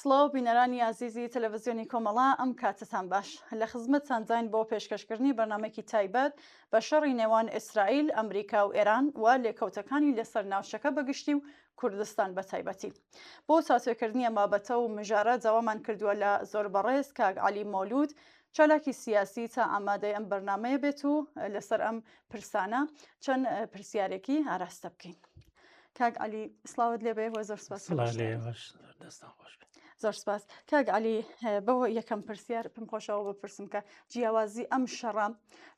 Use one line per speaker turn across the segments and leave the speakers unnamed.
سڵاو بینەرانی ئازیزی تەلەڤزیۆنی کۆمەڵا ئەم کاتتان باش لە خزمەتتان داین بۆ پێشکەشکردنی بەرنمەکی تایبەت بە شەڕی نێوان ئیسرائیل ئەمریکا و ئێران و لێکەوتەکانی لەسەر ناوچەکە بەگشتی و کوردستان بە تایبەتی بۆ تاتوێکردنی ئەم بابەتە و مژارە داوامان کردووە لە زۆر بەڕێز کاک علی مۆلود چالاکی سیاسی تا ئامادەی ئەم بەرنمەیە بێت و لەسەر ئەم پرسانە چەند پرسیارێکی ئاراستە بکەین کاک علی سلااوت لێبێ وە زۆر سپاس زۆر سپاس کاک علی بەوە یەکەم پرسیار پم خۆشەوە بپرسم کە جیاوازی ئەم شەڕام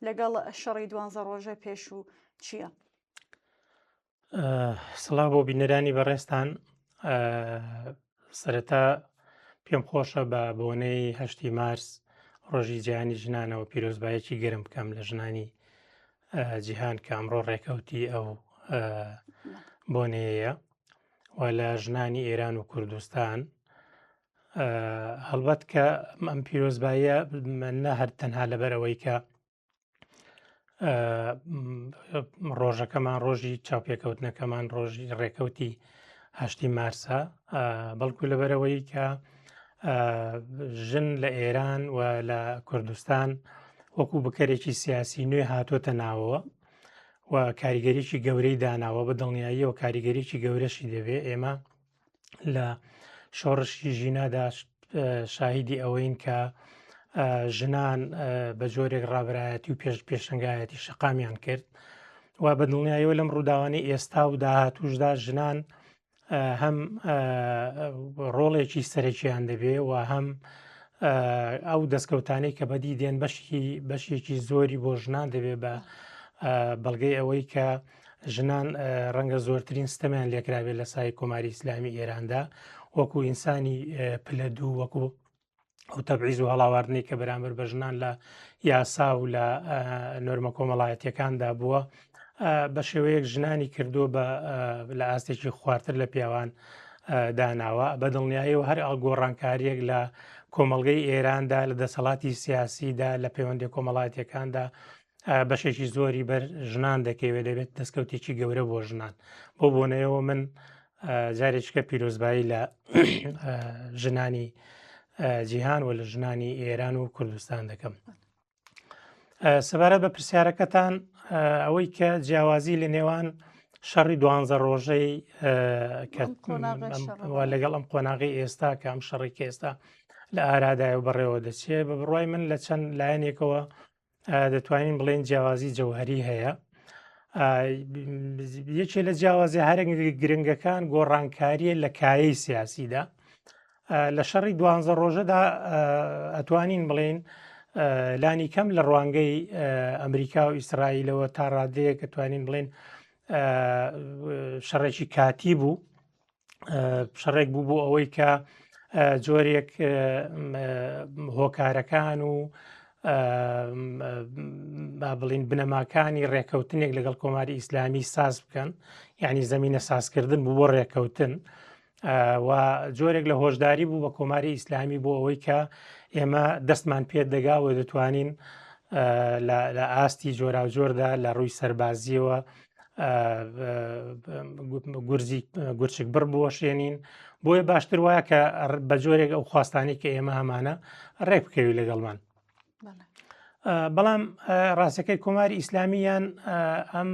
لەگەڵ شەڕی دوانزە ڕۆژە پێش و چییە؟
سڵا بۆ بینەرانی بەڕێستان سەرەتا پێم خۆشە بە بۆنەی هەشتی مارس ڕۆژی جیانی ژنانەوە پیرۆزبایەکی گرم بکەم لە ژنانی جیهان کە ئەمڕۆ ڕێکەوتی ئەو بۆنەیە و لە ژنانی ئێران و کوردستان هەڵبەت کە ئەم پیرۆزبایە نە هەر تەنها لەبەرەوەی کە ڕۆژەکەمان ڕۆژی چاپێکەوتنەکەمان ڕۆژی ڕێکەوتی هەشتی مارسە بەڵکو لەبەرەوەی کە ژن لە ئێران و لە کوردستان وەکو بکەرێکی سیاسی نوێ هاتوۆتە ناوەوە و کاریگەریی گەورەی داناوە بە دڵنیاییەوە کاریگەریی گەورەشی دەبێ ئێمە لە شۆڕشی ژینادا شاهیدی ئەوەین کە ژنان بە جۆرێک ڕابایەتی و پێش پێشنگایەتی شقامیان کرد و بە دڵنیایەوە لەم ڕووداوانی ئێستا و داهاتوشدا ژنان هەم ڕۆڵێکی سەرەکییان دەبێ و هەم ئەو دەستکەوتانەی کە بەدی دێن بەشی بەشێکی زۆری بۆ ژنان دەبێ بە بەڵگەی ئەوەی کە ژنان ڕەنگە زۆرترین ستەمیان لێکراوێت لە سای کۆماری ئیسلامی ئێراندا وەکو ئینسانی پلە دوو وەکو ئەو تەبعیز و هەڵاواردنەی کە بەرامبەر بە ژنان لە یاسا و لە نۆرمە کۆمەڵایەتەکاندا بووە بە شێوەیەک ژنانی کردووە بە لە ئاستێکی خوارتر لە پیاوان داناوە بە دڵنیایەوە هەر ئەڵگۆڕانکاریەک لە کۆمەلگەی ئێراندا لە دەسەڵاتی سیاسیدا لە پەیوەندی کۆمەڵاتیەکاندا بەشێکی زۆری بەر ژنان دەکەوێت دەبێت دەستکەوتێکی گەورە بۆ ژنان بۆ بۆنەیەوە من جارێککە پیرۆزبایی لە ژنانی جیهان و لە ژنانی ئێران و کوردستان دەکەم سەبارەت بە پرسیارەکەتان ئەوەی کە جیاوازی لە نێوان شەڕی دوانزە ڕۆژەی لەگەڵ ئەم قۆناغی ئێستا کە ئەم شەڕی کێستا لە ئارادای و بەڕێوە دەچێت بە بڕای من لە چەند لایەنێکەوە دەتوانین بڵێن جیاوازی جەوهری هەیە یەکێ لە جیاوازی هەرنگ گرنگەکان گۆڕانکاریە لە کایەی سیاسیدا لە شەڕی دوانزە ڕۆژەدا ئەتوانین بڵێن لانی کەم لە ڕوانگەی ئەمریکا و ئیسرائیلەوە تا ڕادەیە کە توانین بڵێن شەڕێکی کاتی بوو شەڕێک بوو بۆ ئەوەی کە جۆرێک هۆکارەکان و با بڵین بنەماکانی ڕێکەوتنێک لەگەڵ کۆماری ئیسلامی ساز بکەن ینی زمینە سازکردن بوو بۆ ڕێکەوتن و جۆرێک لە هۆشداری بوو بە کۆماری ئیسلامی بۆ ئەوەی کە ئێمە دەستمان پێ دەگا و دەتوانین لە ئاستی جۆراوجۆردا لە ڕووی سەربازیەوە گورزی گورچک بڕ بۆشێنین بۆیە باشتر وایە کە بە جۆرێک ئەو خواستانی کە ئێمە هەمانە ڕێک بکەوی لەگەڵمان بەڵام ڕاستەکەی کۆماری ئیسلامیان ئەم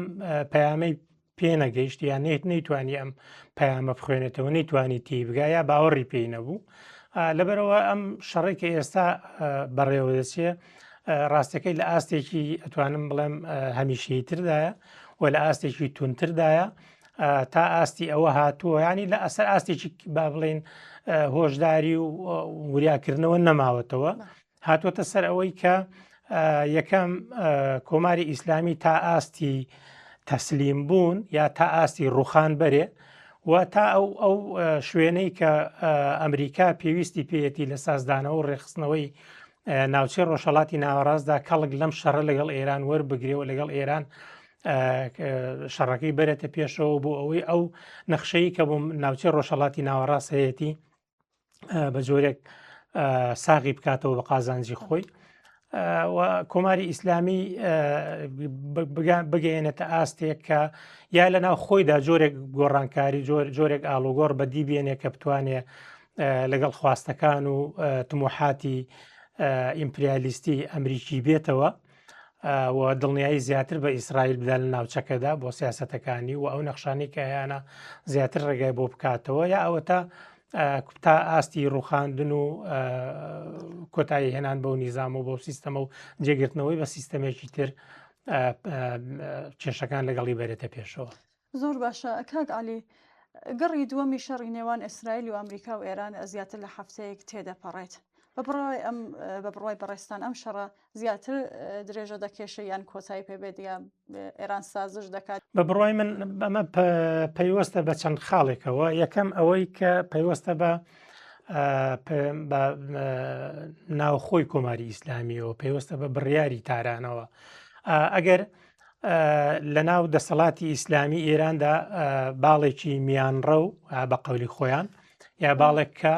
پەیامەی پێنەگەیشت یان نێت نەیتوانی ئەم پەیامە بخوێنێتەوە نەیتوانی تی بگا یا باوەڕی پێی نەبوو لەبەرەوە ئەم شەڕێکی ئێستا بەڕێوە دەچێت ڕاستەکەی لە ئاستێکی ئەتوانم بڵێم هەمیشەی تردایە و لە ئاستێکی تونتردایە تا ئاستی ئەوە هاتووە ینی لە ئەسەر ئاستێکی با بڵین هۆشداری و وریاکردنەوە نەماوەتەوە هاتووەتە سەر ئەوەی کە یەکەم کۆماری ئیسلامی تا ئاستی تەسلیم بوون یا تا ئاستی ڕوخان بەرێ و تا ئەو ئەو شوێنەی کە ئەمریکا پێویستی پێەتی لە سازدانەوە ڕێخستنەوەی ناوچەی ڕۆژهڵاتی ناوەڕاستدا کەڵک لەم شەڕە لەگەڵ ئێران وەربگرێەوە لەگەڵ ئێران شەڕەکەی بەرێتە پێشەوە بۆ ئەوەی ئەو نەخشەی کە بۆ ناوچەی ڕۆژهڵاتی ناوەڕاست هەیەتی بە جۆرێک ساغی بکاتەوە بە قازانجی خۆی کۆماری ئیسلامی بگەێنێتە ئاستێک کە یا لە ناو خۆیدا جۆرێک گۆڕانکاری جۆر جۆرێک ئالوگۆڕ بەدی بێنێ کە بتوانێت لەگەڵ خواستەکان و تمۆحاتی ئیمپریالیستی ئەمریکی بێتەوە و دڵنیایی زیاتر بە ئیسرائیل بدا لە ناوچەکەدا بۆ سیاستەکانی و ئەو نەخشانی کە هەیەە زیاتر ڕێگای بۆ بکاتەوە یا ئەوە تا تا ئاستی ڕوخاندن و کۆتایی هێنان بەو نیزام و بۆ سیستەمە و جێگرتنەوەی بە سیستەمێکی تر کێشەکان لەگەڵی بەرێتە پێشەوە زۆر باشە
کاک عەلی. گەڕی دووەمی شەڕی نێوان ئیسرائیل و ئەمریکا و ئێران زیاتر لە هەفتەیەک تێدەپەڕێت بە بڕای ئەم بە بڕای بەڕێستان ئەم شەڕە زیاتر درێژە دەکێشە یان کۆتایی پێبێت یا ئێران سازش دەکات بە بڕای من
ئەمە پەیوەستە بە چەند خاڵێکەوە یەکەم ئەوەی کە پەیوەستە بە ناوخۆی کۆماری ئیسلامیەوە پێوەستە بە بڕیاری تارانەوە ئەگەر لەناو دەسەڵاتی ئیسلامی ئێراندا باڵێکی میانڕە و بە قولی خۆیان یا باڵێک کە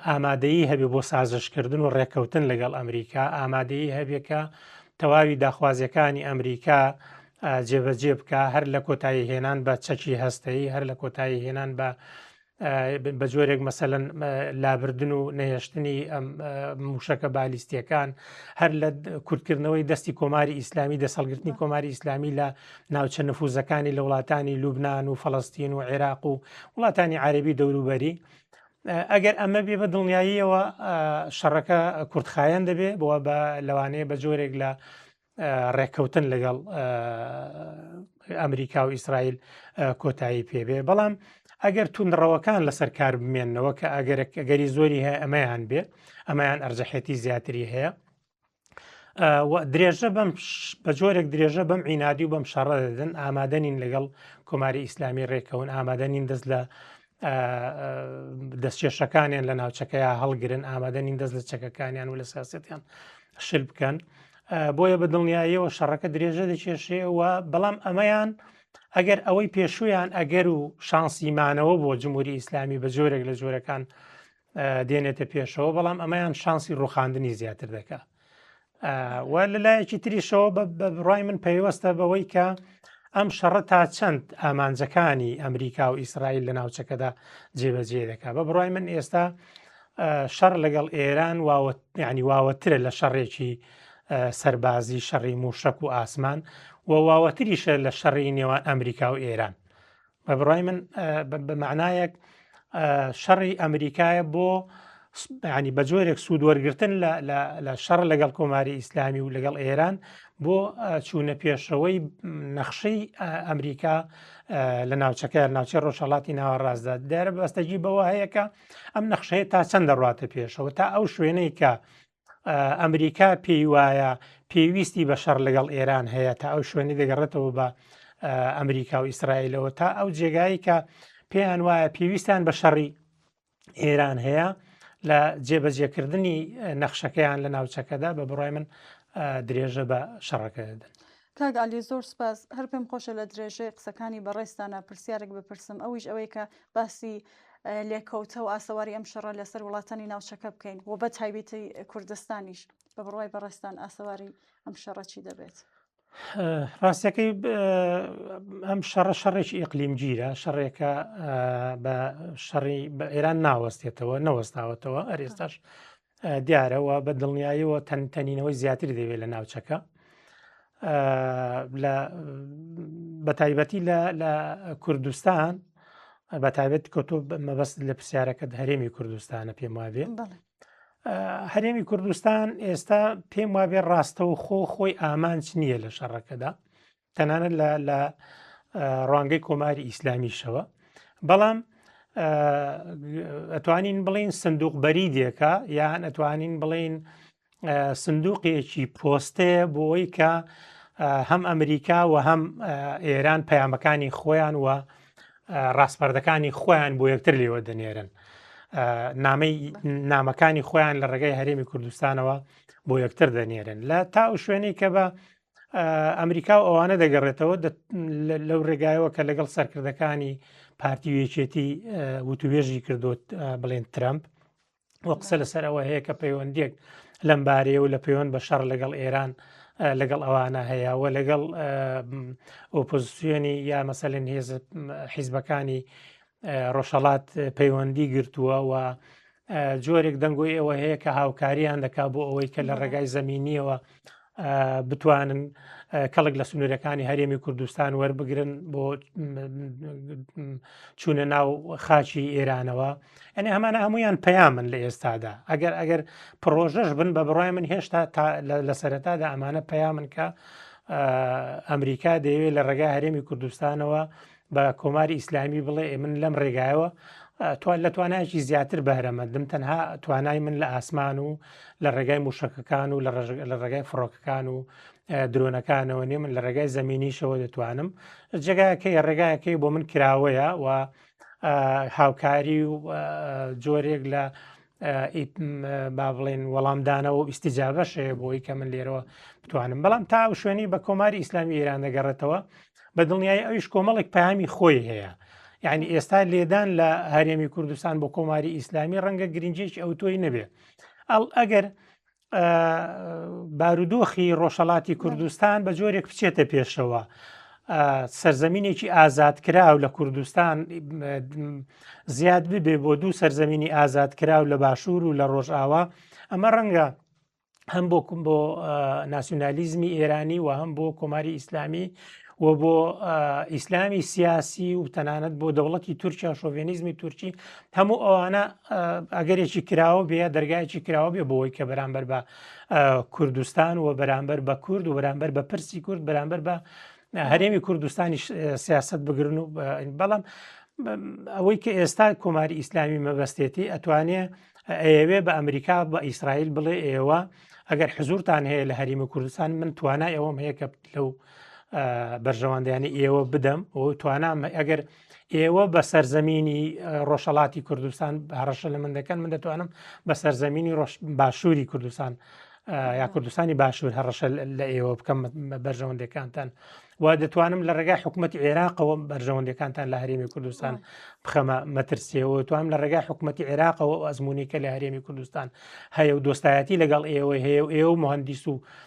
ئامادەیی هەبێ بۆ سازشکردن و ڕێککەوتن لەگەڵ ئەمریکا ئامادەیی هەبێکە تەواوی داخوازیەکانی ئەمریکا جێبەجێ بکە هەر لە کۆتایی هێنان بە چەکی هەستەی هەر لە کۆتایی هێنان بە بە جۆرێک مەسەەن لابردن و نەهێشتنی ئەم موشەکە بالیستیەکان هەر لە کورتکردنەوەی دەستی کۆماری ئیسلامی دەسەڵگرتنی کۆماری ئیسلامی لە ناوچە نفوزەکانی لە وڵاتانی لوبناان و فلستین و عێراق و وڵاتانی عربی دەوروبەری ئەگەر ئەمە بێ بە دڵنیاییەوە شەڕەکە کورتخایەن دەبێ بۆ بە لەوانەیە بە جۆرێک لە ڕێککەوتن لەگەڵ ئەمریکا و ئیسرائیل کۆتایی پێبێ بەڵام ئەگەر توندڕەوەکان لەسەر کار بمێنەوە کە ئەگەرێک ئەگەری زۆری هەیە ئەمەیان بێ ئەمەیان ئەرجەحێتی زیاتری هەیە درێژە بەم بە جۆرێک درێژە بەم عینادی و بەم شەڕە دەدەن ئامادەنین لەگەڵ کۆماری ئیسلامی ڕێکەون ئامادەنین دەست لە دەستکێشەکانیان لە ناوچەکەیان هەڵگرن ئامادەنین دەست لە چەکەکانیان و لە سیاستیان شل بکەن بۆیە بە دڵنیاییەوە شەڕەکە درێژە دەکێشێەوە بەڵام ئەمەیان ئەگەر ئەوەی پێشویان ئەگەر و شانسیمانەوە بۆ جمهوری ئیسلامی بە جۆرێک لە جۆرەکان دێنێتە پێشەوە بەڵام ئەمەیان شانسی ڕوخاندنی زیاتر دەکا و لە لایەکی تریشەوە بە بڕای من پەیوەستە بەوەی کە ئەم شەڕە تا چەند ئامانجەکانی ئەمریکا و ئیسرائیل لە ناوچەکەدا جێبەجێ دەکا بە بڕای من ئێستا شەڕ لەگەڵ ئێران ینی واوەترە لە شەڕێکی سەربازی شەڕی موشک و ئاسمان و واوەتریشە لە شەڕی نێوان ئەمریکا و ئێران بە بڕای من بە معنایەک شەڕی ئەمریکایە بۆ ینی بە جۆرێک سوود وەرگتن لە شەڕ لەگەڵ کۆماری ئیسلامی و لەگەڵ ئێران بۆ چوونە پێشەوەی نەخشەی ئەمریکا لە ناوچەکە ناوچە ڕۆژهڵاتی ناوەڕاستدا دەرە بەستەجی بەوە هەیەکە ئەم نەخشەیە تا چەند دەڕاتە پێشەوە تا ئەو شوێنەی کە ئەمریکا پێی وایە پێویستی بە شەڕ لەگەڵ ئێران هەیە تا ئەو شوێنی دەگەڕێتەوە بە ئەمریکا و ئیسرائیلەوە تا ئەو جێگایی کە پێیان وایە پێویستیان بە شەڕی ئێران هەیە لە جێبەجێکردنی نەخشەکەیان لە ناوچەکەدا بە بڕای من درێژە بە شەڕەکە دەدەن کاک عەلی زۆر
سپاس هەر پێم خۆشە لە درێژەی قسەکانی بەڕێزتانا پرسیارێک بپرسم ئەویش ئەوەی کە باسی لێکەوتە و ئاسەواری ئەم شەڕە لەسەر وڵاتانی ناوچەکە بکەین و بە تایبێتی کوردستانیش بە بڕوای بەڕێستان ئاسەواری ئەم شەڕەچی دەبێت
ڕاستەکەی ئەم شەڕە شەڕێکی ئیقلیمگیرە شەڕێکە بە شەڕی بە ئێران ناوەستێتەوە نەوەستاوەتەوە ئەرێستاش دیارە و بە دڵنیایەوە تەنینەوەی زیاتری دەوێت لە ناوچەکە بە تایبەتی لە کوردستان بە تایبەت کۆتۆ مەبەست لە پرسیارەکە هەرێمی کوردستانە پێم وابێ هەرێمی کوردستان ئێستا پێم وابێ ڕاستەوە خۆ خۆی ئامانج نییە لە شەڕەکەدا تەنانەت لە ڕوانگەی کۆماری ئیسلامیشەوە بەڵام ئەتوانین بڵین سندوق بەری دێکە یان ئەتوانین بڵین سندوقێکی پۆستەیە بۆی کە هەم ئەمریکا و هەم ئێران پەیامەکانی خۆیان و ڕاستپەردەکانی خۆیان بۆ یەکتر لێوە دەنێرن نامەی نامەکانی خۆیان لە ڕێگەی هەرێمی کوردستانەوە بۆ یەکتر دەنێرن لە تا و شوێنی کە بە ئەمریکا و ئەوانە دەگەڕێتەوە لەو ڕێگایەوە کە لەگەڵ سەرکردەکانی پارتی و یەکێتی وتوێژی کردوت بڵێن ترامپ و قسە لەسەرەوە هەیە کە پەیوەندێک لەم بارەیە و لە پەیوەند بە شەڕ لەگەڵ ئێران لەگەڵ ئەوانە هەیە و لەگەڵ ئۆپۆزیسیۆنی یا مەسەلێن هێز حیزبەکانی ڕۆژهڵات پەیوەندی گرتووە و جۆرێک دەنگۆی ئەوە هەیە کە هاوکاریان دەکا بۆ ئەوەی کە لە ڕێگای زمینیەوە بتوانن کەڵک لە سنوورەکانی هەرێمی کوردستان وەربگرن بۆ چوونە ناو خاچی ئێرانەوە ئەنی هەمانە هەمویان پەیامن لە ئێستادا ئەگەر ئەگەر پرۆژەش بن بە بڕای من هێشتا لە سەرەتادا ئەمانە پەیامن کە ئەمریکا دەیەوێت لە ڕێگای هەرێمی کوردستانەوە بە کۆماری ئیسلامی بڵێ من لەم ڕێگایەوە توان لە توانایکی زیاتر بەرەمەندم تەنها توانای من لە ئاسمان و لە ڕێگای موشەکەکان و لە ڕێگای فڕۆکەکان و درۆنەکانەوە نیە من لە ڕێگای زمینیشەوە دەتوانم جێگایەکەی ڕێگایەکەی بۆ من کراوەیە و هاوکاری و جۆرێک لە با بڵێن وەڵامدانەوە و ئیسیجابەش هەیە بۆی کە من لێرەوە بتوانم بەڵام تا و شوێنی بە کۆماری ئیسلامی ئێران دەگەڕێتەوە بە دڵنیای ئەویش کۆمەڵێک پامی خۆی هەیە یعنی ئێستا لێدان لە هەرێمی کوردستان بۆ کۆماری ئیسلامی ڕەنگە گرنجێکی ئەو تۆی نەبێ ئەڵ ئەگەر بارودۆخی ڕۆژهڵاتی کوردستان بە جۆرێک بچێتە پێشەوە سەرزەمینێکی ئازادکراو لە کوردستان زیاد ببێ بۆ دوو سەرزەمینی ئازادکراو لە باشوور و لە ڕۆژئاوا ئەمە ڕەنگە هەم بۆ بۆ ناسیۆنالیزمی ئێرانی و هەم بۆ کۆماری ئیسلامی و بۆ ئیسلامی سیاسی و تەنانەت بۆ دەوڵەتی تورکیا شۆڤێنیزمی تورکی هەموو ئەوانە ئەگەرێکی کراوە بێ دەرگایکی کراوە بێ بۆەوەی کە بەرامبەر بە کوردستان و بەرامبەر بە کورد و بەرامبەر بە پرسی کورد بەرامبەر بە هەرێمی کوردستانی سیاست بگرن و بەڵام ئەوەی کە ئێستا کۆماری ئیسلامی مەبەستێتی ئەتوانێ ئەوێ بە ئەمریکا بە ئیسرائیل بڵێ ئێوە ئەگەر حزورتان هەیە لە هەریمە کوردستان من توانای ئەوەم هەیە کە لەو بەرژەوەندیانی ئێوە بدەم و توانام ئەگەر ئێوە بە سەرزەمینی ڕۆژەڵاتی کوردستان هەڕەشە لە من دەکەن من دەتوانم بە سەرزەمینی ڕۆژ باشووری کوردستان یا کوردستانی باشوور هەڕەشە لە ئێوە بکەم بەرژەوەندەکانتان و دەتوانم لە ڕێگای حکوومەتتی عێراقەوە بەرژەوەندەکانتان لە هەرێمی کوردستان بخەمە مەترسیەوە توانم لە ڕێگای حکوومەتتی عێراقەوە ئەزمموی کە لە هەرێمی کوردستان هەیە و دۆستایەتی لەگەڵ ئێوەی هەیە و ئێوە مهندیس و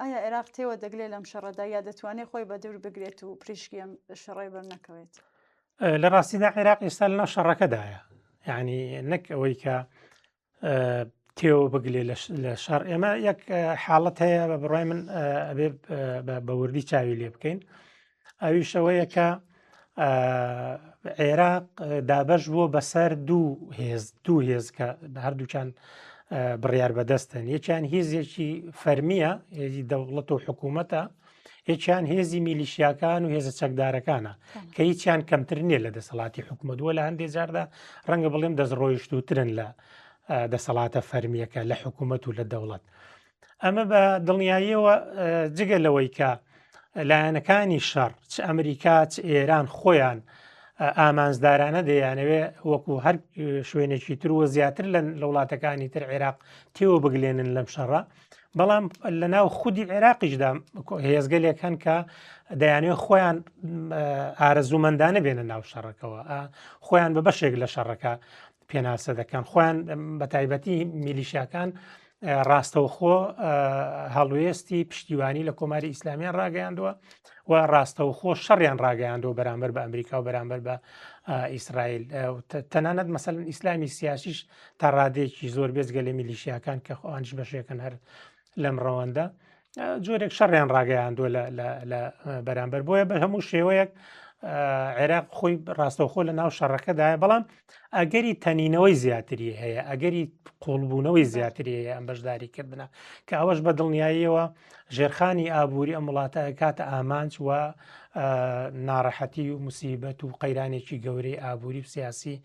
ئایا عێراق تێوە دەگلێ لەم شەڕەدا یا دەتوانێت خۆی بە دەور بگرێت و پریشکی ئەم شەڕێ بەر نەکەوێت لە
ڕاستیدا عێراق ئێستا لە ناو شەڕەکەدایە ینی نەک ئەوەی کە تێوە بگلێ لە شار ئێمە یەک حاڵەت هەیە بە بڕای من بە بەوردی چاوی لێ بکەین ئەویشەوەیە کە عێراق دابش بووە بەسەر دوو هێز دوو هێز کە هەردووچان بڕیار بەدەستن یەکیان هێزێکی فەرمیە هێزی دەوڵەت و حکوومەتە یەکیان هێزی میلیشیاکان و هێزە چەکدارەکانە کە هیچیان کەمتر نییە لە دەسەڵاتی حکوومەت وە لە هەندێک جاردا ڕەنگە بڵێم دەست ڕۆیشتوترن لە دەسەڵاتە فەرمیەکە لە حکوومەت و لە دەوڵەت ئەمە بە دڵنیاییەوە جگە لەوەی کە لایەنەکانی شەڕ چ ئەمریکا چ ئێران خۆیان ئامانجدارانە دەیانەوێ وەکو هەر شوێنێکی تروە زیاتر لە وڵاتەکانی تر عێراق تێوە بگلێنن لەم شەڕە بەڵام لە ناو خودی عێراقیشدا هێزگەلێک هەن کە دەیانێت خۆیان ئارەزوومەندانە بێنە ناو شەڕەکەەوە خۆیان بە بەشێک لە شەڕەکە پێناسە دەکەن خۆیان بە تایبەتی میلیشاکان ڕاستەوخۆ هەڵوێستی پشتیوانی لە کۆماری ئیسلامیان ڕاگەیاندووە و ڕاستەوخۆ شەڕیان ڕاگەیاندەوە بەرامبەر بە ئەمریکا و بەرامبەر بە ئیسرائیل تەنانەت مەسەن ئیسلامی سیاسیش تا ڕادێکی زۆر بێزگە لە میلیشیاکان کە خۆانش بەشێکن هەر لەم ڕەوەندە جۆرێک شەڕیان ڕاگەیاندووە لە بەرامبەر بۆیە بە هەموو شێوەیەک عێراق خۆی ڕاستەوخۆ لە ناو شەڕەکەدایە بەڵام ئەگەری تەنینەوەی زیاتری هەیە ئەگەری قوڵبوونەوەی زیاتری هەیە ئەم بەشداری کردنە کە ئەوەش بە دڵنیاییەوە ژێرخانی ئابووری ئەم وڵاتە کاتە ئامانج و ناڕەحەتی و مسیبەت و قەیرانێکی گەورەی ئابووری و سیاسی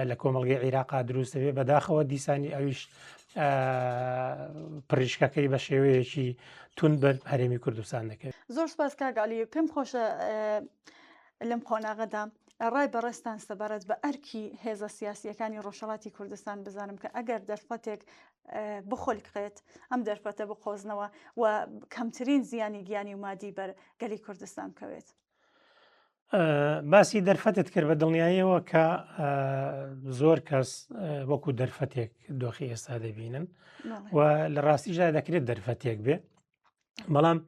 لە کۆمەلگەی عیراقا دروستەوێ بەداخەوە دیسانی ئەویش پڕیشکەکەی بە شێوەیەکی تون بەر هەرێمی کوردستان دەکەێت
زۆر
سپاس
کاگالی پێم خۆشە لەم
قۆناغەدا
ڕای بەڕێستان سەبارەت بە ئەرکی هێزە سیاسیەکانی ڕۆژهڵاتی کوردستان بزانم کە ئەگەر دەرفەتێک بخۆلکڕێت ئەم دەرفەتە بقۆزنەوە و کەمترین زیانی گیانی و مادی بەر گەلی کوردستان بکەوێت باسی
دەرفەتت کرد بە دڵنیاییەوە کە زۆر کەس وەکو دەرفەتێک دۆخی ئێستا دەبینن و لە ڕاستیشدا دەکرێت دەرفەتێک بێ بەڵام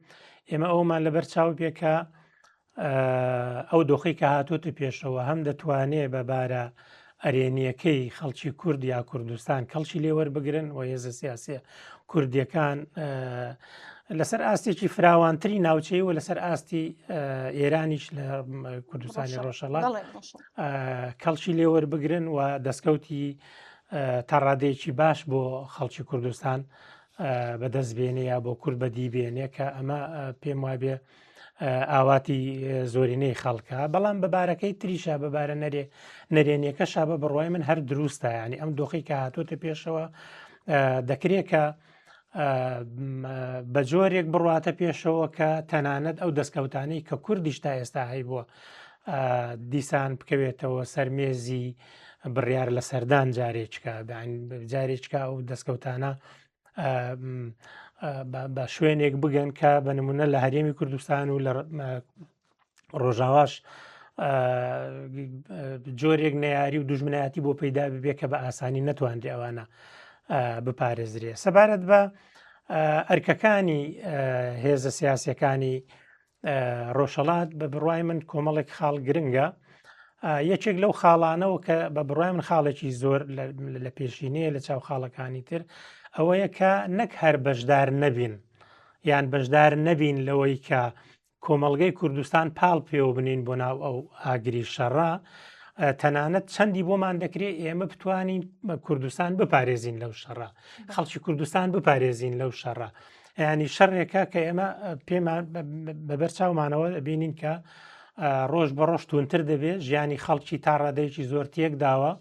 ئێمە ئەومان لەبەر چاو پێکە ئەو دۆخی کە هاتووە پێشەوە هەم دەتوانێت بە بارە ئەرێنیەکەی خەڵکی کورد یا کوردستان کەڵکی لێ وەربگرن و هێزە سیاسە کوردیەکان لەسەر ئاستێکی فراوانتری ناوچەی و لەسەر ئاستی ئێرانیش لە کوردستانی ڕۆژەڵات کەڵکی لێوەر بگرن و دەستکەوتی تا ڕادەیەکی باش بۆ خەڵکی کوردستان بەدەست بێنێ یا بۆ کورد بەدی بێنێ کە ئەمە پێم وابێ ئاواتی زۆرینەی خەڵکە بەڵام بەبارەکەی تریشە بەبارە نەرێ نەرێنیەکە شابە بڕوای من هەر دروستە ینی ئەم دۆخی کە هاتوۆتە پێشەوە دەکرێت کە بە جۆرێک بڕاتە پێشەوە کە تەنانەت ئەو دەستکەوتانی کە کوردیش تا ئێستا هەی بووە دیسان بکەوێتەوە سەرمێزی بڕیار لە سەردان جارێککە جارێککە ئەو دەستکەوتانە بە شوێنێک بگەن کە بە نمونە لە هەرێمی کوردستان و لە ڕۆژاواش جۆرێک نەیاری و دژمنایەتی بۆ پەیدا ببێ کە بە ئاسانی نەتوانرێ ئەوانە بپارێزرێ سەبارەت بە ئەرکەکانی هێزە سیاسەکانی ڕۆژەڵات بە بڕای من کۆمەڵێک خاڵ گرنگە یەکێک لەو خاڵانەوە کە بە بڕای من خاڵێکی زۆر لە پێشینەیە لە چاو خاڵەکانی تر ئەوەیە کە نەک هەر بەشدار نەبین یان بەشدار نەبین لەوەی کە کۆمەلگەی کوردستان پاڵ پێوە بنین بۆ ناو ئەو ئاگری شەڕە تەنانەت چەندی بۆمان دەکرێت ئێمە بتوانین کوردستان بپارێزین لەو شەڕە خەڵکی کوردستان بپارێزین لەو شەڕە ینی شەرێکە کە ئێمە پێمان بەبەر چاومانەوە بینین کە ڕۆژ بە ڕۆژ تونتر دەبێت ژیانی خەڵکی تا ڕادەیەکی زۆر تێک داوە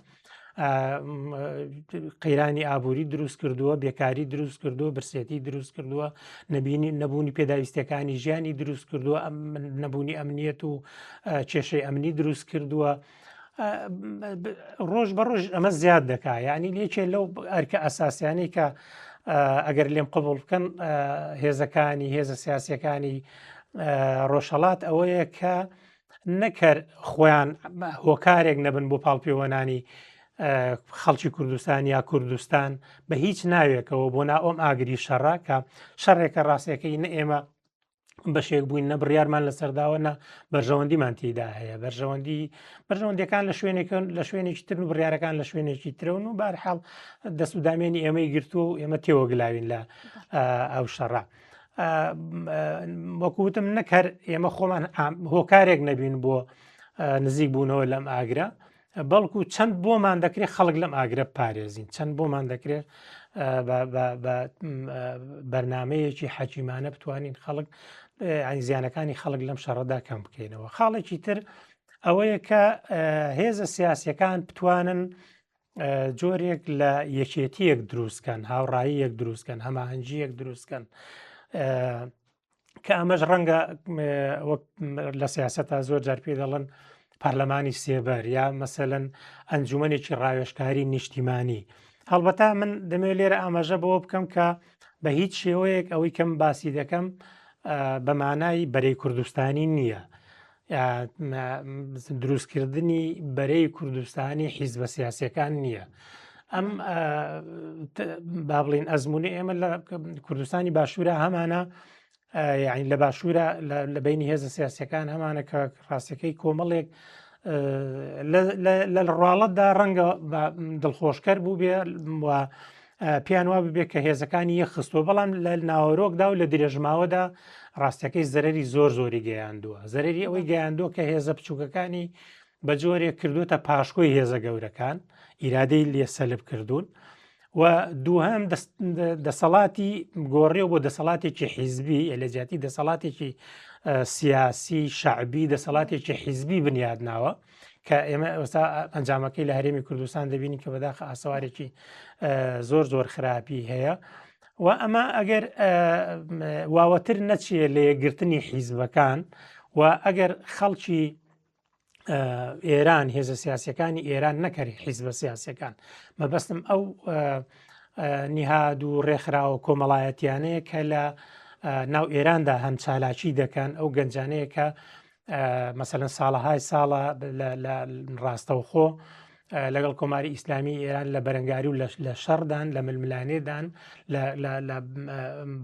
قەیرانی ئابووری دروست کردووە بێکاری دروست کردووە برسێتی دروست کردووە نبینی نەبوونی پێداویستەکانی ژیانی دروست کردووە ئەم نەبوونی ئەمنیەت و کێشەی ئەمنی دروست کردووە ڕۆژ بە ڕۆژ ئەمە زیاد دەکا یعنی لێکێ لەو ئەرکە ئەساسیانی کە ئەگەر لێم قبول بکەن هێزەکانی هێزە سیاسەکانی ڕۆژهڵات ئەوەیە کە نەکەر خۆیان هۆکارێک نەبن بۆ پاڵپێوەنانی خەڵکی کوردستان یا کوردستان بە هیچ ناوێکەوە بۆ ناۆم ئاگری شەڕە کە شەڕێکە ڕاستەکەی نە ئێمە بەشێک بووین نە بڕیارمان لەسەرداوە نە بەرژەوەندیمان تیدا هەیە بەرژەوەندی بەرژەوەندەکان لە شوێنێکن لە شوێنێکی تر و بڕارەکان لە شوێنێکی ترەون و بارحاڵ دەست و دامێنی ئێمەی گرتووە و ئێمە تێوەگلاوین لە ئەو شەڕە. وەکوتم نەکەر ئێمە خۆمان هۆکارێک نەبین بۆ نزیک بوونەوە لەم ئاگرە بەڵکو چەند بۆمان دەکرێت خەڵک لەم ئاگرە پارێزین چەند بۆمان دەکرێت بەرنمەیەکی حەکیمانە بتوانین خەڵک ئەنگزیانەکانی خەڵک لەم شەڕەدا کەم بکەینەوە خاڵێکی تر ئەوەیە کە هێزە سیاسەکان بتوانن جۆرێک لە یەکێتیەک دروستکەن هاوڕایی یەک دروستکەن هەماهەنگی یەک دروستکەن کە ئەمەش ڕەنگە وەک لە سیاست تا زۆر جار پێ دەڵن پەرلەمانی سێبەر یا مەسەەن ئەنجومەنێکی ڕاوێشکاری نیشتیمانی هەڵبەتا من دەمێ لێرە ئاماژە بەوە بکەم کە بە هیچ شێوەیەک ئەوەی کەم باسی دەکەم بەمانایی بەرەی کوردستانی نییە دروستکردنی بەرەی کوردستانی حیزبە سیاسەکان نییە. ئەم با بڵین ئەزمموی ئێمە لە کوردستانی باشوورە هەمانە یاین لە باشوورە لە بینی هێزە سیاسەکان هەمانە کە ڕاستەکەی کۆمەڵێک لە ڕواڵەتدا ڕەنگە دڵخۆشکەر بوو بێ پێیان وا ببێت کە هێزەکانی یەخستوە بەڵام لە ناوەرۆکدا و لە درێژماوەدا ڕاستەکەی زەرری زۆر زۆری گەیاندووە زەرری ئەوەی گەیاندووە کە هێزە بچووکەکانی بە جۆرێک کردوتە پاشکۆی هێزە گەورەکان ئیرادەی لێ سەلب کردوون و دووهام دەسەڵاتی گۆڕێ بۆ دەسەڵاتێکی حیزبی لە جیاتی دەسەڵاتێکی سیاسی شعبی دەسەڵاتێکی حیزبی بنیاد ناوە کە ئێمە ئەوستا ئەنجامەکەی لە هەرێمی کوردستان دەبینی کە بەداخ ئاسەوارێکی زۆر زۆر خراپی هەیە و ئەمە ئەگەر واوەتر نەچێ لە یەکگرتنی حیزبەکان و ئەگەر خەڵکی ئێران هێزە سیاسەکانی ئێران نەکەری حیزبە سیاسەکان مەبەستم ئەو نیهاد و ڕێکخراوە کۆمەڵایەتیانەیە کە لە ناو ئێراندا هەم چالاکی دەکەن ئەو گەنجانەیە کە مەسەلەن ساڵەهای ساڵە ڕاستەوخۆ لەگەڵ کۆماری ئیسلامی ئێران لە بەرەنگاری و لە شەڕدان لە ململانێدان لە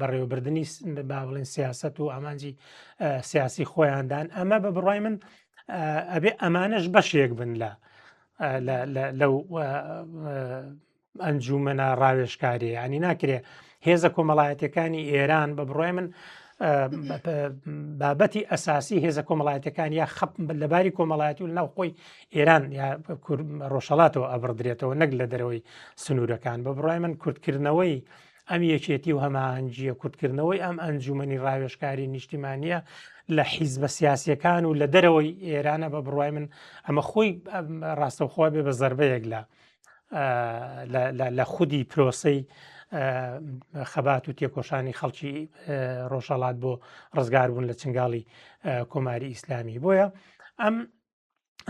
بەڕێوەبردننی با بڵێن سیاست و ئامانجی سیاسی خۆیاندان ئەمە بە بڕای من ئەبێ ئەمانش بەشێک بن لە لەو ئەنجومەنە ڕاوێشکاریە ئەنی ناکرێ هێزە کۆمەڵایەتەکانی ئێران بە بڕای من بابەتی ئەساسی هێزە کۆمەڵایەتەکان یا خەپ لەباری کۆمەڵایەتی و ناوخۆی ئێران یا ڕۆژەڵاتەوە ئەبڕدرێتەوە نەک لە دەرەوەی سنوورەکان بە بڕای من کورتکردنەوەی ئەم یەکێتی و هەماهنگگیە کورتکردنەوەی ئەم ئەنجومنی ڕاوێشکاری نیشتیمانە لە حیز بە سیاسەکان و لە دەرەوەی ئێرانە بە بڕای من ئەمە خۆی ڕاستەخوا بێ بە زربەیەک لە لە خودی پرۆسەی خەبات و تێکۆشانی خەڵکی ڕۆژەڵات بۆ ڕزگاربوون لە چنگاڵی کۆماری ئیسلامی بۆیە ئەم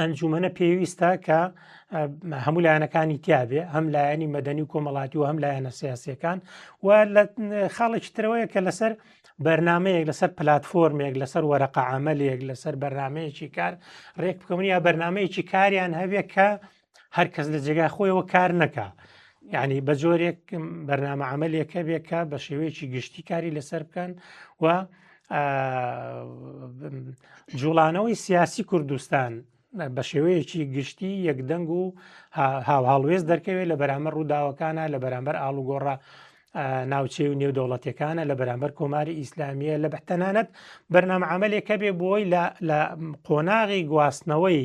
ئەنجومەنە پێویستە کە هەموو لایەنەکانی تیاابێ هەم لایەنی مەدەنی و کۆمەڵاتی و هەم لایەنە سیاسەکان و لە خاڵێکی ترەوەیە کە لەسەر بەرنمەیەک لەسەر پلتفۆرمێک لەسەر وەرەقە عملێک لەسەر بەرنمەیەکی کار ڕێک بکەونی یا بەرنمەیەکی کاریان هەبێ کە هەر کەس لە جێگای خۆیەوە کار نەکا یعنی بە جۆرێک بەرنامە عملێکە بێکە بە شێوەیەکی گشتی کاری لەسەر بکەن و جوڵانەوەی سیاسی کوردستان بە شێوەیەکی گشتی یەکدەنگ و هاوهاڵوێز دەرکەوێت لە بەرامبەر ڕووداوەکانە لە بەرامبەر ئاڵوگۆڕە ناوچەی و نێودەوڵەتەکانە لە بەرامبەر کۆماری ئیسلامیە لە بەتەنانەت بەرنامە عملێکە بێ بۆی لە قۆناغی گواستنەوەی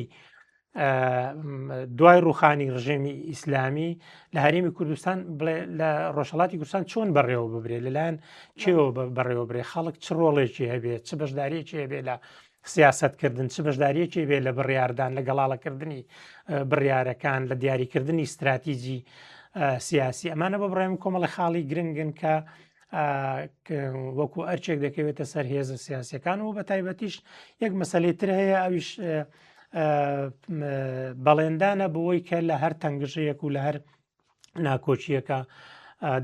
دوای ڕوخانی ڕژێمی ئیسلامی لە هەرێمی کوردستان بڵێ لە ڕۆژهڵاتی کوردستان چۆن بەڕێوە ببرێ لەلایەن چێوە بەڕێوە برێ خەڵک چ ڕۆڵێکی هەبێت چ بەشدارێکی هەبێ لە سیاستکردن چ بەشداریەکی بێ لە بڕاردان لە گەڵاڵەکردنی بڕارەکان لە دیاریکردنی استراتیژی سیاسی ئەمانە بە بڕێم کۆمەڵی خاڵی گرنگن کە وەکو ئەرچێک دەکەوێتە سەر هێزە سیاسەکان و بە تایبەتیش یەک مەسلەی تر هەیە ئەویش بەڵێندانە بۆی کە لە هەر تەنگژەیەک و لە هەر ناکۆچیەکە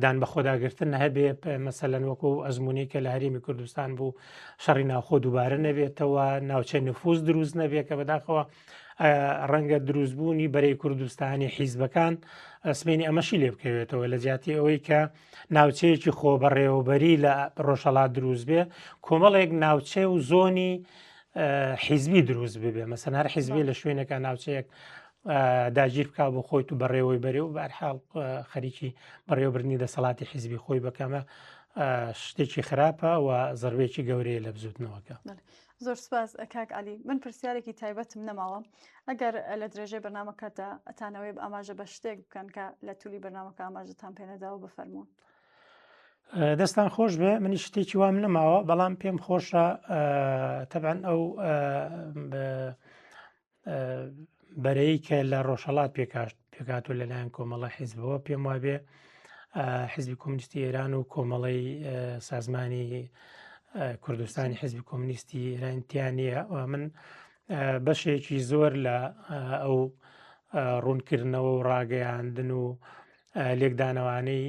دان بە خۆداگرتن هەبێ مەسەلەن وەکو ئەزمموی کە لە هەرێمی کوردستان بوو شەڕی ناوخۆ دووبارە نەبێتەوە ناوچەی نفوس دروست نەبێت کە بەداخەوە ڕەنگە دروستبوونی بەرەی کوردستانی حیزبەکان سمێنی ئەمەشی لێ بکەوێتەوە لە جیاتی ئەوەی کە ناوچەیەکی خۆبەڕێوەبەری لە ڕۆژەڵات دروست بێ کۆمەڵێک ناوچێ و زۆنی حیزبی دروست ببێ مەسەن هەر حیزبی لە شوێنەکە ناوچەیەک داگیر بک بۆ خۆی و بەڕێوەی بەرێ و بارحاڵ خەریکی بەڕێوەبرنی دەسەڵاتی حیزبی خۆی بەکەمە شتێکی خراپە و زەربێکی گەورەیە لە بزوتنەوەکە زۆر سپاس
کاک علی من پرسیارێکی تایبەتم نەماوە ئەگەر لە درێژەی بەنامەکەدا ئەتانەوەی ئاماژە بە شتێک بکەن کە لە تولی بەنامەکە ئاماژتان پێنەداوە بفەرمونون
دەستان خۆش بێ منی شتێکی وام نەماوە بەڵام پێم خۆشە تەبەن ئەو بەرەی کە لە ڕۆژهڵات پێکاشت پێکات و لەلایەن کۆمەڵە حیزبەوە پێم وابێ حزبی کۆمنیستی ئێران و کۆمەڵی سازمانی کوردستانی حزبی کۆمنیستی ئێرانتیانە من بەشێکی زۆر لە ئەو ڕوونکردنەوە و ڕاگەیاندن و لێکدانەوانەی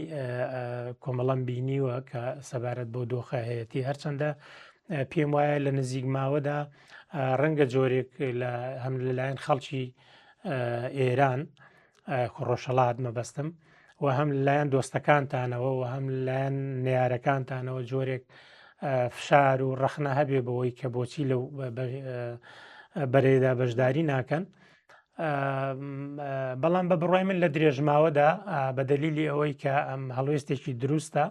کۆمەڵەم بینیوە کە سەبارەت بۆ دۆخە هەیەتی هەرچەندە پێم وایە لە نزیک ماوەدا ڕەنگە جۆرێک لە هەم لەلایەن خەڵکی ئێران خۆڕۆژەڵات مەبەستم و هەم لایەن دۆستەکانتانەوە و هەم لایەن نیارەکانتانەوە جۆرێک فشار و ڕەخنە هەبێ بەوەی کە بۆچی لەو بەرێدا بەشداری ناکەن بەڵام بە بڕای من لە درێژماوەدا بە دەلیلی ئەوەی کە ئەم هەڵوێستێکی دروستە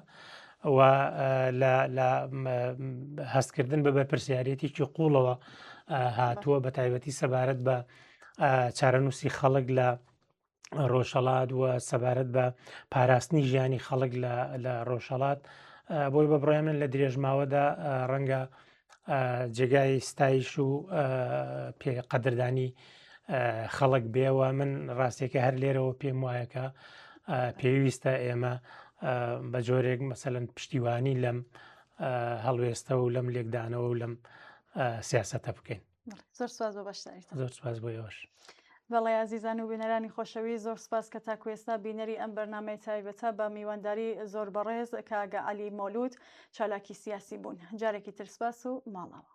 لە هەستکردن بە بەرپرسیارەتێکی قوڵەوە هاتووە بە تایبەتی سەبارەت بە چارەنووسی خەڵک لە ڕۆژهڵات وە سەبارەت بە پاراستنی ژیانی خەڵک لە ڕۆژهڵات بۆی بە بڕێ من لە درێژماوەدا ڕەنگە جێگای ستایش و پێ قەدردانی خەڵک بێەوە من ڕاستێکە هەر لێرەوە پێم وایەکە پێویستە ئێمە بە جۆرێک مەسەن پشتیوانی لەم هەڵوێستە و لەم لێکدانەوە و لەم سیاستە بکەین
زۆر سواز بە بەشداریت زۆر سواز بۆ یۆش
بەڵێ ئازیزان
و بینەرانی خۆشەوی زۆر سپاس کە تاکوێستا بینەری ئەم بەرنمەی تایبەتە بە میوانداری زۆر بەڕێز کاگە علی مۆلود چالاکی سیاسی بوون جارێکی ترسپاس و ماڵەوە